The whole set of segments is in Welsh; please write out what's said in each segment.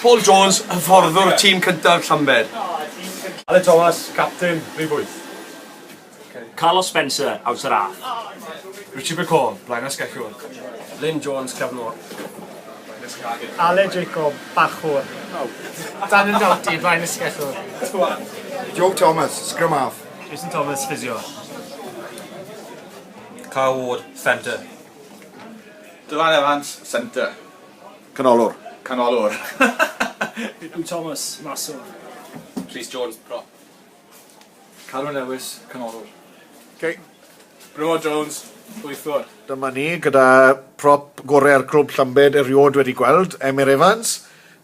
Paul Jones, hyfforddwr tîm cyntaf Llambed. Aled Thomas, capten rhif wyth. Carlos Spencer, awdur a. Richie McCall, blaenau sgeciwr. Lyn Jones, cefnwr. Aled Jacob, bachwr. Daniel Doughty, blaenau sgeciwr. Joe Thomas, scrum half. Jason Thomas, ffisio. Carl Ward, ffenter. Dylan Evans, centre. Canolwr. Canolwr. Huw Thomas, maswr. Rhys Jones, prop. Carwyn Lewis, canolwr. Okay. Bro Jones, gweithwr. Dyma ni gyda prop gorau'r clwb Llambed erioed wedi gweld, Emyr Evans.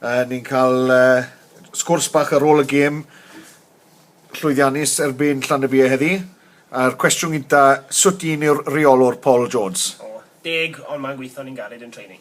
Uh, ni'n cael uh, sgwrs bach ar ôl y gêm llwyddiannus erbyn Llanybie heddi. A'r cwestiwn gyda, sut un yw'r reolwr Paul Jones? O, deg, ond mae'n gweithio'n un galed yn training.